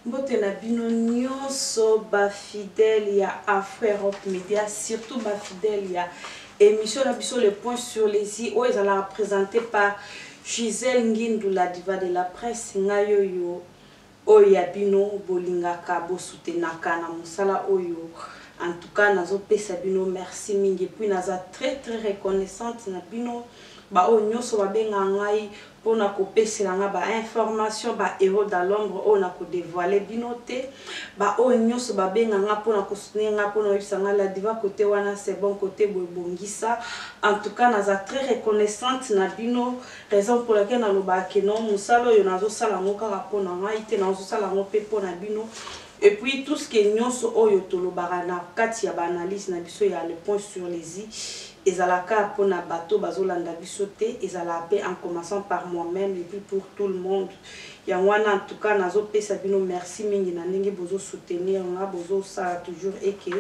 Mbote na bino nionso ba fidèles ya Afro Europe Media surtout ba fidèles ya emission na biso le point sur les i oyo ezalaka presente par Gisèle Ngindu la diva de la presse ngai oyo oyo ya bino bolingaka bo soutenaka na mosala oyo en tout cas nazo pesa bino merci mingi epuis naza très très reconnaissante na bino ba oyo nionso ba bengaka ngai pona ko pesela nga ba informations ba heros dans l'ombre oyo nako devoile bino te ba oyo nioso ba benga nga pona ko soutenir nga pona oyebisa nga la diva cote wana c'est bon cote boye bongisa en tout cas naza très reconnaissante na bino raison pour laquelle na lobaka que non musala oyo nazo sala yango kaka pona ngai te nazo sala yango pe pona bino et puis tout ce que nioso oyo tolobaka na kati ya ba analyse na biso ya le point sur les i Ezalaka pona bato bazo landa biso te ezalaa pe en commencant par moi meme et puis pour tout le monde yango wana en tout cas nazo pesa bino merci mingi na ndenge bozo soutenir nga bozo sala toujours et que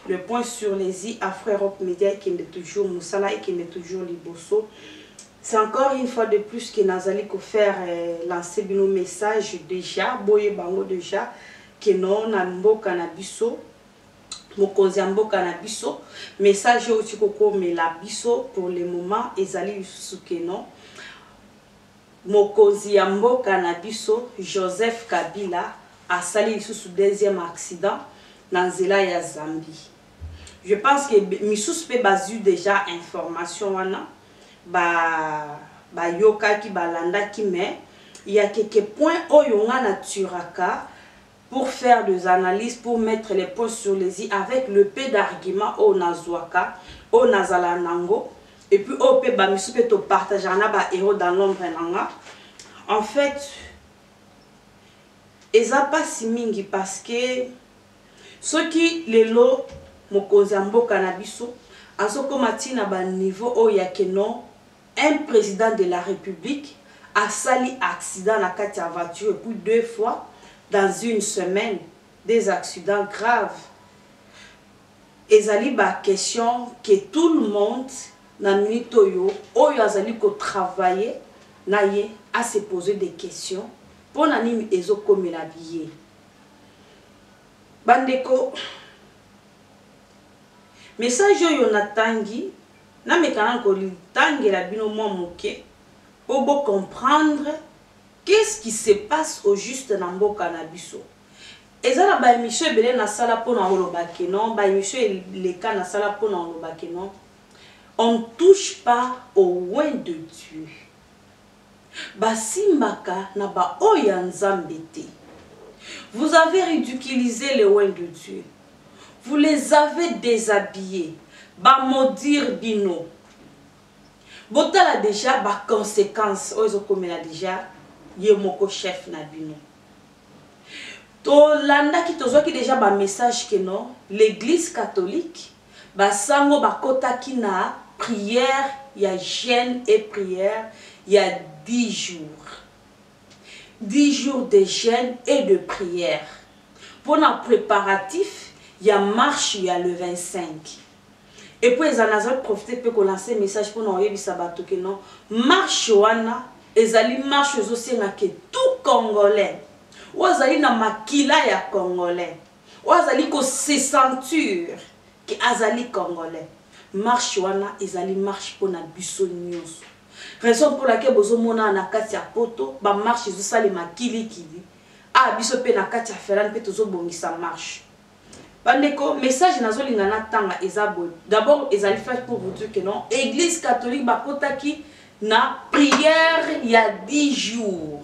le point sur les i Afro Europe Media ekende toujours musala ekende toujours liboso c'est encore une fois de plus que nazali ko faire lancer bino message dejà boyeba yango dejà que non na mboka na biso mokonzi ya mboka na biso message oyo outi kokomela biso pour le moment ezali lisusu que non mokonzi ya mboka na biso Joseph Kabila asali lisusu deuxième accident na nzela ya Zambie je pense que misusu pe bazui déjà information wana ba bayokaki balandaki mais ya keke point oyo nga na turaka pour faire des analyses pour mettre les points sur les i avec le peu d'arguments oyo nazuaka oyo nazalaka na yango et puis oyo pe ba misusu pe to partageaka na ba heros dans l'ombre na nga en fait eza pasi mingi parce que soki lelo mokonzi ya mboka na biso azokoma ti na ba niveau oyo ya keno Un president de la republique asali accident na kati ya voiture et puis deux fois dans une semaine des accidents graves ezali ba question que tout le monde na minute oyo oyo azali ko travaille na ye a se poser des question pona nini ezo komela ye ba ndeko message oyo na tangi Nameka nanu kotangela bino mwa moke po bo comprendre qu'est-ce qui se passe au juste na mboka na biso. Eza na ba emissions ebele nasala po na koloba que non, ba emissions eleka nasala po na koloba que non, on ne touche pas au oint de Dieu. Basimbaka na ba oyo ya nzambe te. Vous avez ridiculise les oint de Dieu. Vous les avez deshabilles. Ba maudire bino. Botala dejà ba consequences oyo ezo komela dejà ye moko chef na bino. Tolandaki, tozwaki dejà ba messages que non, l'eglise catholique, Ba sango ba kotaki na prière ya jeune et prière ya dix jours. Dix jours de jeune et de prière pona preparatif ya marche ya le 25. Et puis ezali nazo profiter pe ko lancer message pona koyebisa batu que non marche wana ezali marche ezo senga que tout congolais oyo azali na makila ya congolais, oyo azali ko se sentir que azali congolais marche wana ezali marche pona biso nionso raison pour laquelle bozo mona awa na kati ya poto ba marche ezo salema kili kili awa biso pe na kati ya ferland pe tozo bongisa marche bandeko message nazo linga na tanga eza boye d'abord ezali fait pour vous dire que non eglise catholique bakotaki na prière ya 10 jours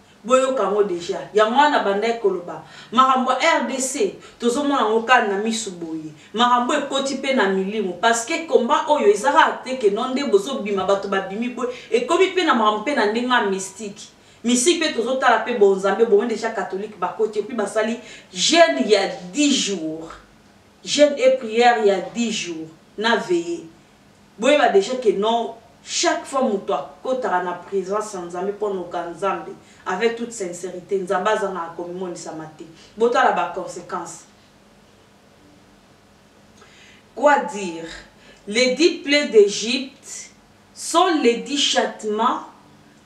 Boyoka yango dejà. Yango wana na bandaki koloba makambo ya rdc tozo mona yango kaka na misu boye. Makambo oyo ekoti pe na milimo parce que combat oyo eza kaka te que non nde bozo bima batu ba bimi boye. Ekomi pe na makambo pe na ndenge ya mystique. Mystique pe tozo tala pe bo nzambe bomoni dejà catholique ba koti epuis ba sali jeune ya dix jours. Jeune et prière ya dix jours na veille. Boyeba dejà que non chaque fois mutu akotaka na presence ya Nzambe pona oka Nzambe avec toute sincerite Nzambe azangaka komimonisama te. Botala ba consequences. Quoi dire? Les dix plaies d'Egypte sont les dix châtiments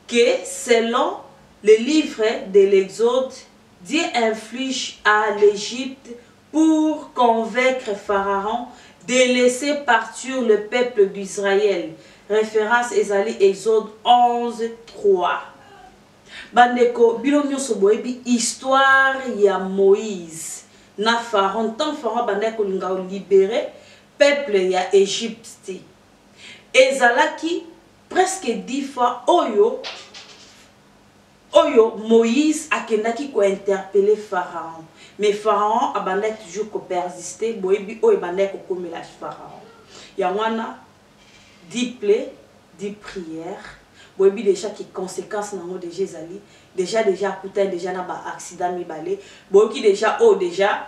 que selon le livre de l'Exode Dieu inflige à l'Egypte pour convaincre Pharaon de laisser partir le peuple d'Israël, reference ezali Exode 11, 3. Ba ndeko, bino nionso boyebi histoire ya Moïse na Pharaon, tango Pharaon abandaki kolinga ko liberer peuple ya Egypte, ezalaki presque dix fois oyo, Oyo Moïse akendaki ko interpeller Pharaon mais Pharaon abandaki toujours ko persister boyebi oyo ebandaki kokomela Pharaon yango wana dit ple dit prière boyebi dejà que consequence nango dejà ezali dejà dejà akutani dejà na ba accidents mibale boyoki dejà oyo dejà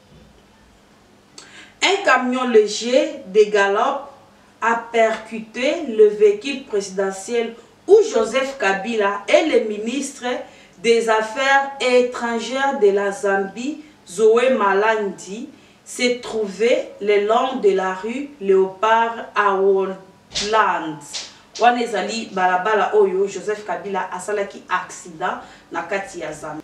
Un camion leger de galop a percute le vehicule presidentiel où Joseph Kabila et le ministre des Affaires etrangères de la Zambie, Zoe Malandi, se trouvaient le long de la rue Leopard à Woodland. Wana ezali balabala oyo Joseph Kabila asalaki accident na kati ya zamba.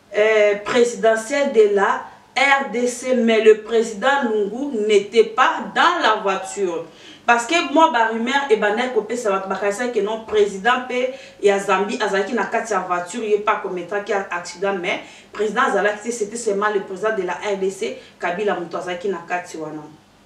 eh, presidentielle de la rdc mais le president lungu n'était pas dans la voiture parce que mwa barumeur ebandaki kopesa bato bakanisaki ke non président mpe ya zambie azalaki na kati ya voiture ye mpe akometaki accident mais président azalaki te c'était seulement le président de la rdc kabila moto azalaki na kati wana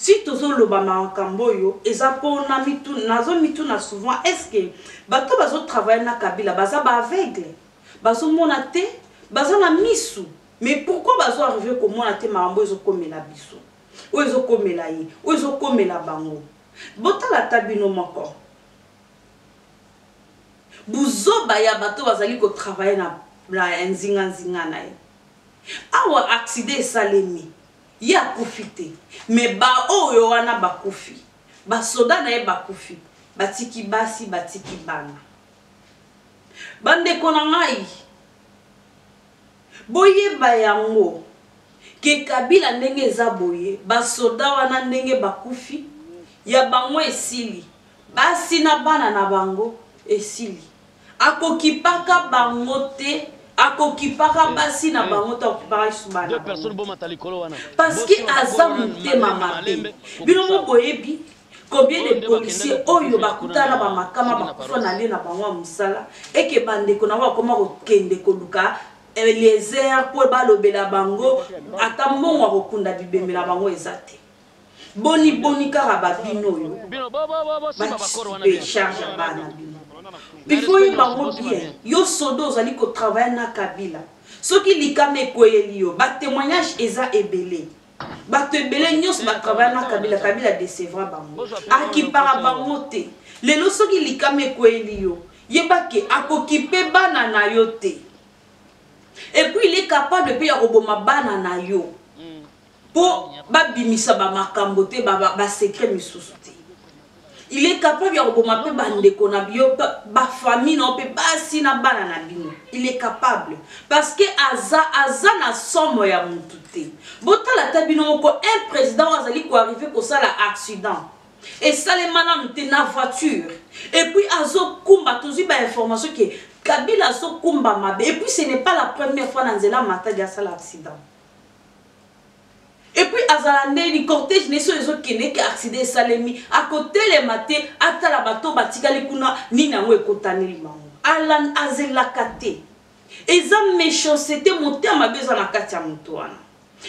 Si tozo loba makambo oyo eza po na mituna nazo mituna souvent est ce que bato bazo travailler na kabila baza ba aveugle bazo mona te baza na misu mais pourquoi bazo arriver komona te makambo oyo ezo komela biso oyo ezo komela ye oyo ezo komela bango botala ata bino moko buzoba ya bato bazali ko travailler na na nzinga nzinga na ye awa accident esalemi Ye akufi te mais ba oyo wana bakufi ba soda naye bakufi batiki basi batiki bana ba ndeko na ngai boyeba yango ke kabila ndenge eza boye ba soda wana ndenge bakufi ya bango esili basi na bana na bango esili Akokipaka bango te akokipaka basi na bango to akokipaka lisusu bana parceke aza motema mabe bino mo boyebi combien de policier oyo bakutana na bamakama bakufa na lie na bango ya mosala eke bandeko na bango bakoma kokende koluka eliezer mpo balobela bango ata mbongo ya kokunda bibembe na bango eza te Boni boni kaka ba bino oyo batipe charge ya bana na bino il faut oyeba yango bien yo soda ozali ko travaille na kabila soki likama ekweyeli yo ba témoignage eza ebele bato ebele nyonso ba travaille na kabila kabila decevra bango akipaka bango te lelo soki likama ekweyeli yo yeba ke akokipe bana na yo te epuis il est capable mpe ya koboma bana na yo po ba bimisa ba makambo te ba ba secret misusu te il est capable ya koboma pe ba ndeko na bio ba famille na pe basi na bana na bino il est capable parce que aza aza na somo ya mutu te botala ta bino moko un président azali ko arriver kosala accident esalema nanu te na voiture epuis azokumba tozwi bainformation ke kabila azokumba mabe epuis ce n'est pas la première fois na nzela matadi asala accident epuis azala ndeni cortège neso ezokende ke accident esalemi akotelema te atala bato batikali kuna nini yango ekotaneli bango alan azelaka te eza méchancete motema mabe eza na kati ya moto wana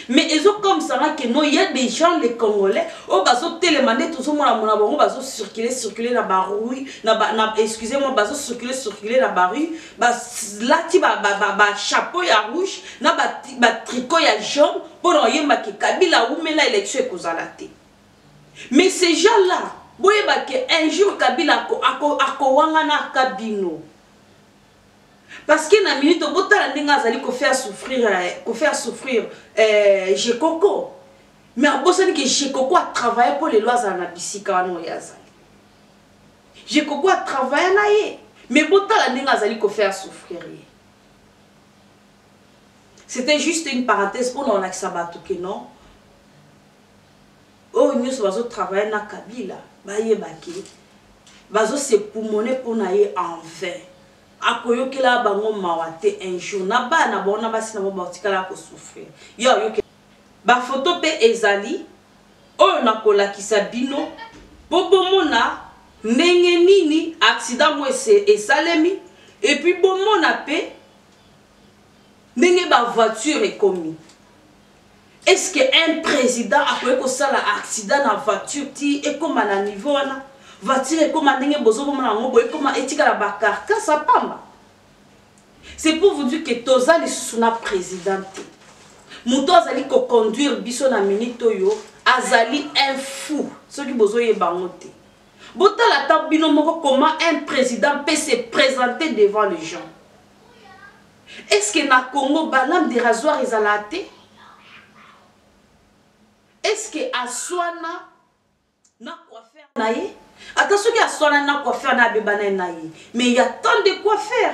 mais ezokomisa nga ke no ya des gens les congolais oyo bazotelema nde tozomona mona bango bazocircule circule na barui excusez moi bazocircule circule na barui balati bachapeau ya rouge na batricot ya jaune mpo na oyemba ke kabila awumela election ekozala te mais ces gens là boyeba ke un jour kabila akowangana aka bino parce que na minute botala ndenge azali kofaire souffrir eh, kofaire souffrir eh, jekoko mais abosani ke jekoko atravaille mpo lelo azala na bisika wana oyo azali ye koko atravaille na ye mais botala ndenge azali kofaire souffrir ye c'était juste une parenthèse mpo na olakisa bato ke non oyo oh, nyonso bazotravaille na kabila bayeba ke bazosepumone mpo na ye en vain akoyokela bango mawa te un jour na bana bango na basi na bango batikala kosouffrir yo ayoke bafoto mpe ezali Oyo nakolakisa bino po bomona ndenge nini accident ngo esalemi et puis bomona pe ndenge ba voiture ekomi. Est ce que un president akoki kosala accident na voiture ti ekoma na niveau wana? Voiture ekoma ndenge bozobomona yango boye ekoma etikala ba carcasse pamba. C'est pour vous dire que toza lisusu na président te moto azali koconduire biso na minute oyo azali un fou soki bozoyeba yango te botala ata bino moko comment un président peut se présenter devant les gens est ce que na congo balame de rasoir ezalaa te est ce que aswana na coiffeur na ye ata soki aswanani na coiffeur na abeba naye na ye mais ya tant de coiffeur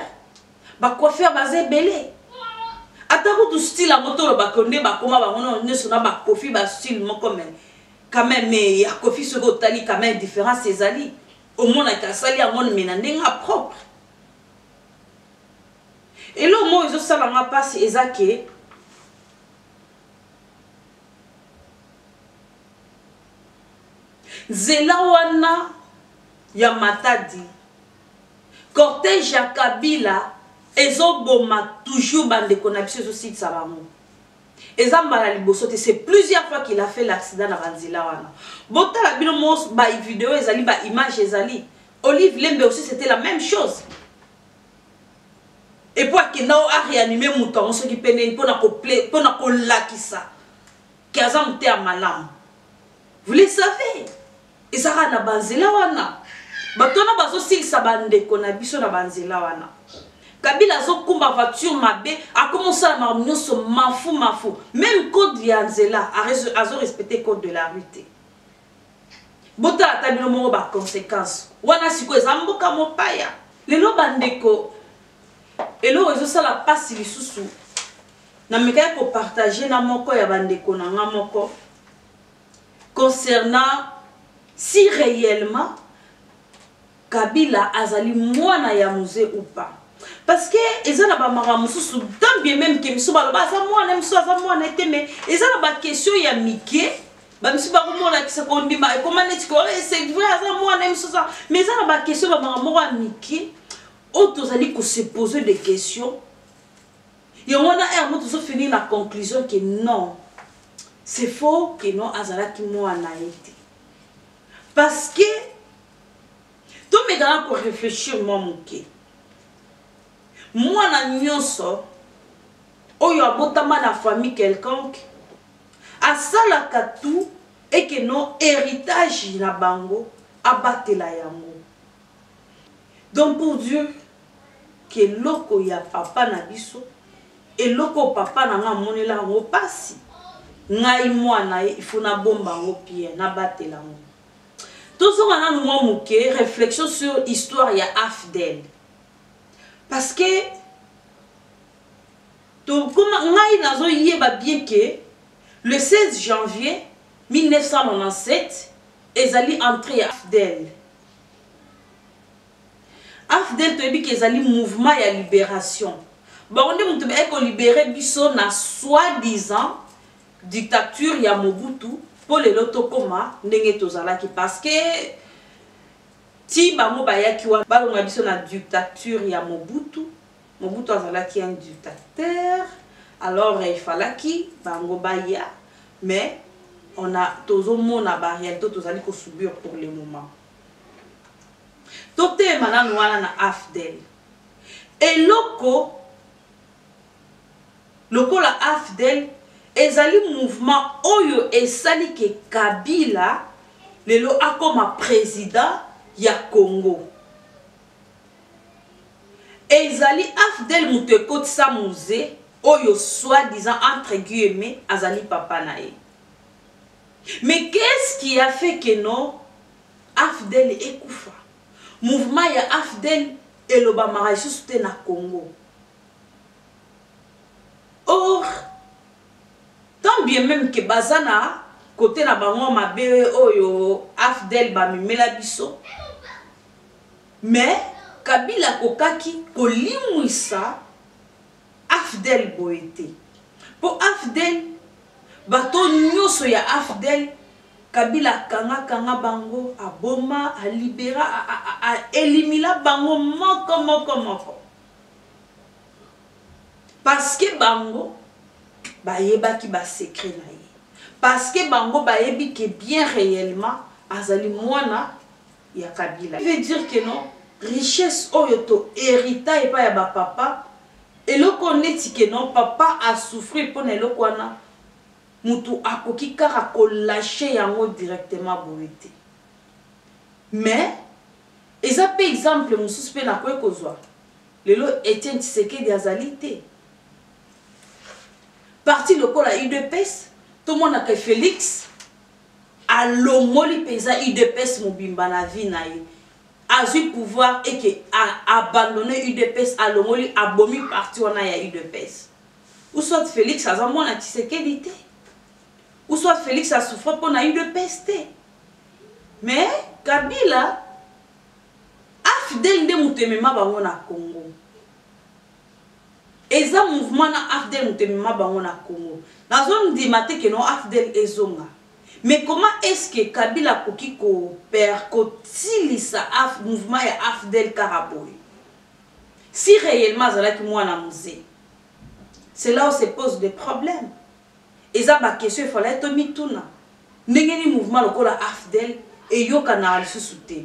bacoiffeur baza ebele ata kutu style yango tolobaka yo nde bakoma bango nao nyonso na bakofi bastyle moko me quand même mais ya kofi soki otali quand même différence ezali omonaki asali yango me na ndenge ya propre eloko moko ezosala nga mpasi eza ke Nzela wana ya Matadi, cortège ya Kabila ezo boma toujours ba ndeko na biso ezo silisa bango. Eza mbala ya liboso te, c'est plusieurs fois qu'il a fait l'accident na ba nzela wana. Botala bino moko ba video ezali, ba images ezali. Olive Lembe aussi c'était la même chose. Et puis akenda o a réanimer moto yango soki pene pona ko pona kolakisa que aza muteya malamu vous le savez ezaka na banzela wana bato wana bazosilisa bandeko na biso na banzela wana kabila azokumba voiture mabe akoma osala makambo nyonso mafu mafu meme code ya nzela azorespecte code de la rue te botala ata bino moko baconséquence wana sikoyo eza mboka mopaya lelo bandeko eloko ezosala mpasi lisusu Namekaki ko partager na moko ya ba ndeko na nga moko concernant si reellement Kabila azali mwana ya muze ou pas. Parce que eza na ba mara mususu tant bien même que misu baloba aza mwana misu aza mwana ete mais eza na ba question ya mike bamisusu bakomonakisa kondima ekoma neti ko eh, c'est vrai aza mwana ye misusu mais eza na baquestion bamaka moko ya mike oyo tozali kose pose de question Yango wana heure moko tozo finir na conclusion que non c'est faux que non azalaki mwana ye te parce que tomekaka ko réfléchir mwa moke mwana nyonso oyo abotama na famille quelconque asalaka tout eke no héritage na bango abatela yango Donc pour dire que eloko ya papa na biso, eloko papa na nga amonela yango pasi, ngai mwana ye il faut na bomba yango bien, na batela yango. Tozonga nanu mwa moke réflexion sur histoire ya Afdel. Parce que tokoma ngai nazoyeba bien que le 16 janvier 1997 ezali entrée ya Afdel. afdl toyebi ke ezali mouvement ya liberation bango nde moto baye kolibere biso na soit disant dictature ya mobutu mpo lelo tokóma ndenge tozalaki parceke ti bango bayaki wana balonga biso na dictature ya mobutu Mobutu azalaki un dictateur alors il falaki bango baya mais on a tozo mona ba realite tozali ko subir pour le moment totema nanu wana na afdel eloko lokola afdel ezali mouvement oyo esali ke kabila lelo akoma president ya congo Ezali afdl mutu ekotisa muze oyo soit disant entre guillemets azali papa na ye. Mais qu'est ce qui a fait que non afdl ekufa? Mouvement ya afdl elobamaka lisusu te na Congo. Or tant bien meme que baza na cote na bango mabe oyo afdl bamemela biso Mais Kabila akokaki kolimwisa AFDL boye te. Po AFDL bato nyoso ya AFDL Kabila akanga kanga bango, aboma, a libera, a elimina bango moko moko moko. Parce que bango bayebaki ba secret na ye. Parce que bango bayebi que bien reellement azali mwana ya kabila qui veut dire que non richesse oyo to herita epai ya ba papa eloko oyo neti que non papa a souffrir mpo na eloko wana motu akoki kaka kolache yango directement boye te mais eza mpe exemple mosusu mpe nakoki kozwa lelo etienne tshisekedi azali te parti lokola udps tomonaka felix Alongoli penza udps mobimba na vie na ye. Azui pouvoir et que a abandonner udps alongoli abomi parti wana ya udps. Ou soit Felix aza mwana Tshisekedi te. Ou soit Felix a souffrir pona udps te. Mais Kabila afdl nde mutu emema bango na Congo. Eza mouvement na afdl moto emema bango na congo nazo ndima te que no afdl ezonga mais comment est ce que kabila akoki ko per ko silisa af mouvement ya afdl kaka boye si reellement azalaki mwana mze c'est là ou se pose de problème eza ba question efalaki to mituna ndenge ni mouvement lokola afdl eyokanaka lisusu te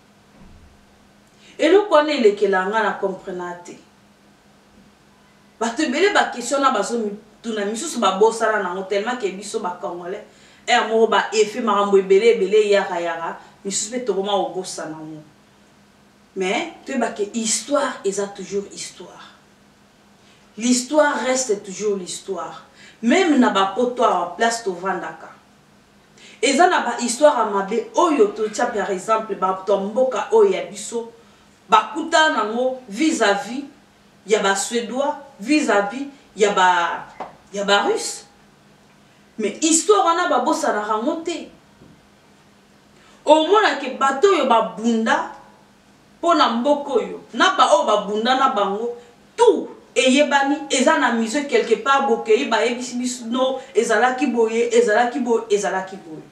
Eloko wana elekela nga na comprena te. Batu ebele ba question wana bazo mituna misusu ba bosana nango tellement ke biso ba congolais heure moko ba effet makambo ebele ebele eyaka yaka misusu pe tokoma kobosana yango. Mais toyeba ke histoire eza toujours histoire. L'histoire reste toujours l'histoire. Meme na ba poto awa place tovandaka. Eza na ba histoire ya mabe oyo to tia par exemple batu ya mboka oyo ya biso ba kutana na ngo vis à vis ya ba suedois vis à vis ya ba ya ba russe mais histoire wana ba bosanaka ngo te omona ke bato oyo ba bunda Po na mboka oyo na ba oyo ba bunda na bango tout eyebani eza na musee quelque part bokeyi ba yebisi biso no ezalaki boye ezalaki boye ezalaki boye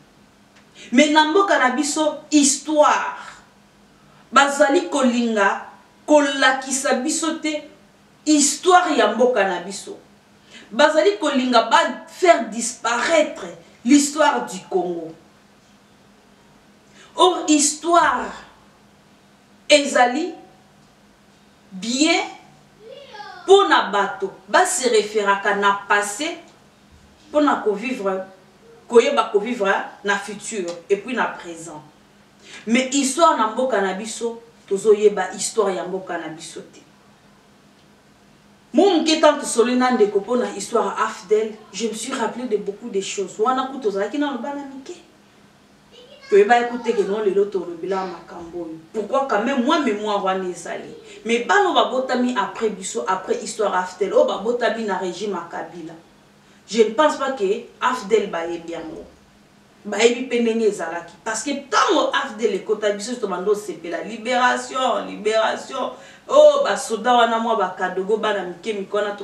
mais na mboka na biso histoire bazali kolinga kolakisa biso te histoire ya mboka na biso bazali kolinga ba faire disparaitre l'histoire du Congo Or histoire ezali bien pona bato ba se referaka na passe pona ko vivre koyeba ko vivre na future et puis na present mais histoire na mboka na biso tozo yeba histoire ya mboka na biso te. Mwa moke ntango tosololi na ndeko mpo na histoire ya AFDL, je me suis rappele de beaucoup de choses. Wana kutu tozalaki nano bana mike. Toyebaki kutu te ke non lelo tolobelaka makambo oyo. Pourquoi quand même mwa memoire wana ezali. Mais bana oyo babotami après biso, après histoire AFDL, oyo babotami na regime ya Kabila, je ne pense pas ke AFDL bayebi yango. Bayebi pe ndenge ezalaki parce que tango afdl ekota biso nioso tobanda kosepela liberation liberation oh ba soda wana mua ba kadogo bana mike mike wana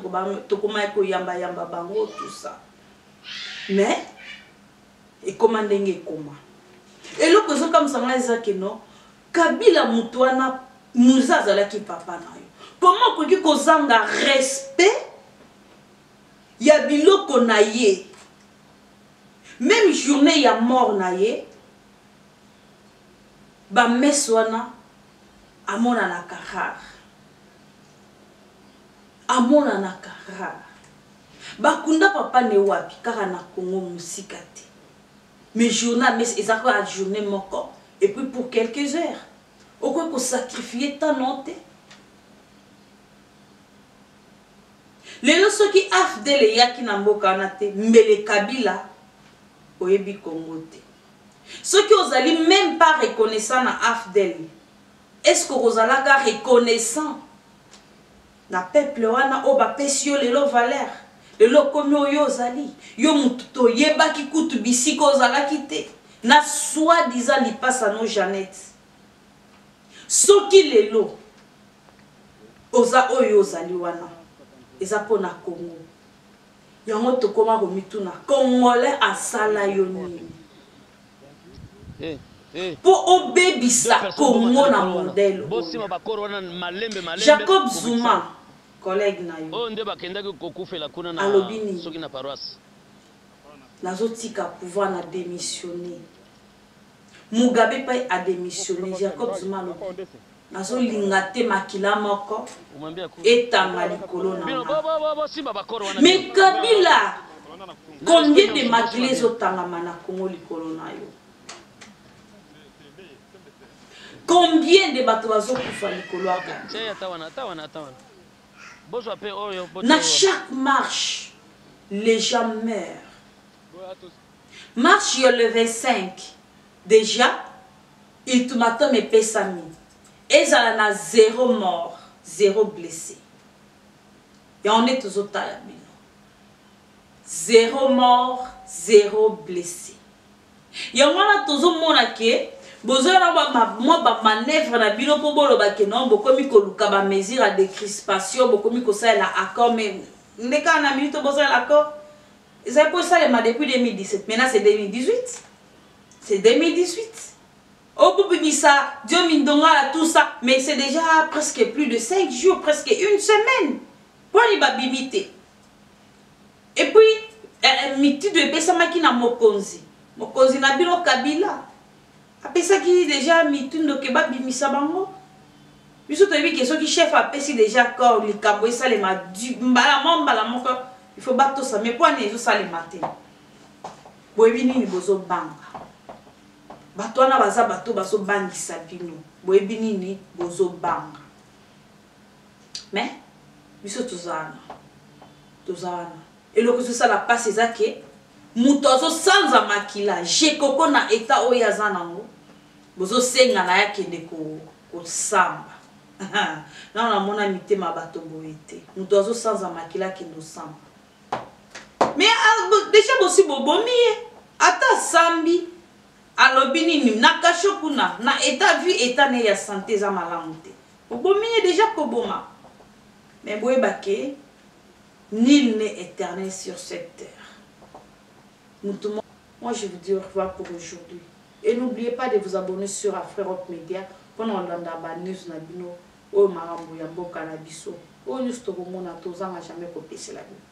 tokomaki koyamba yamba bango tout ça mais ekoma ndenge ekoma eloko ezokamwisa ngai eza ke no kabila moto wana muza azalaki papa na yo koma okoki kozanga respect ya biloko na ye Meme journee ya mort na ye ba messe wana amonanaka rare. Amonanaka rare. Bakunda papa ne wapi kaka na Congo mosika te. Mais journee ya messe eza kaka journee moko et puis pour quelques heures. Okoki ko sacrifier temps na yo te. Lelo soki afdl eyaki na mboka wana te mbele kabila oyebi congo te soki ozali meme pas reconnaissant na afdl est ce que okozalaka reconnaissant na peuple wana oyo bapesi yo lelo valeur lelo okomi oyo ozali yo motu toyebaki kutu bisika ozalaki te na soi disant lipasa no janete soki lelo Oza oyo ozali wana eza pona congo yango tokoma komituna congolais asala yo nini mpo eh, eh. obebisa congo na modele jacob zuma collègue na yo oyo nde bakendaki kokufela kuna na alobi nini soki na paroisse nazotika pouvoir na démissionner Mugabe pe a demissionne Jacob Zuma alobi nazo linga te makila moko etanga likolo na nga mais Kabila combien de makila ezo tangama na Congo likolo na yo combien de bato bazo kufa likolo ya Kabila na chaque marche les gens meurent Marche ya le 25, dejà ultimatum epesami, ezala na zero mort, zero blesse. Yango nde tozo tala bino. Zero mort, zero blesse. Yango wana tozo mona ke bozoya na mwa ba manœuvre na bino mpo boloba ke non bokomi koluka ba mesure ya decrispation bokomi kosalela accord mais nde kaka na minute bosalela accord Ezali ko salema depuis 2017 maintenant c'est 2018 c'est 2018 okobimisa Dio Mindongala tout ça mais c'est déjà presque plus de 5 jours presque une semaine poni babimi te et puis eh, eh, mitindo epesamaki na mokonzi mokonzi na bino Kabila apesaki deja mitundo ke babimisa bango biso toyebi ke soki chef apesi deja accord likambo esalema mbala mwa mbala moko il faut batosa mais mpo ani ezosalema te boyebi nini bozobanga bato wana baza bato bazobangisa bino boyebi nini bozobanga mais biso toza wana toza wana eloko ezosala mpasi eza ke moto azosanza makila jekoko na etat oyo aza nango bozosenga na ye akende kosamba nano namona mitema bato boye te moto azosanza makila akende osamba me ah, deja bosi bobomi ye ata asambi alobi nini na kasho kuna na etat vie etat ne ya sante eza malamu te Obomi ye dejà koboma mais boyeba ke nul n'est eternel sur cette terre mutu moko moi je vous dis au revoir pour aujourd'hui et n'oubliez pas de vous abonner sur Afrirock Media pona kolanda ba news na bino oyo makambu ya mboka na biso oyo nionso tokomona tozanga jamais kopesela bino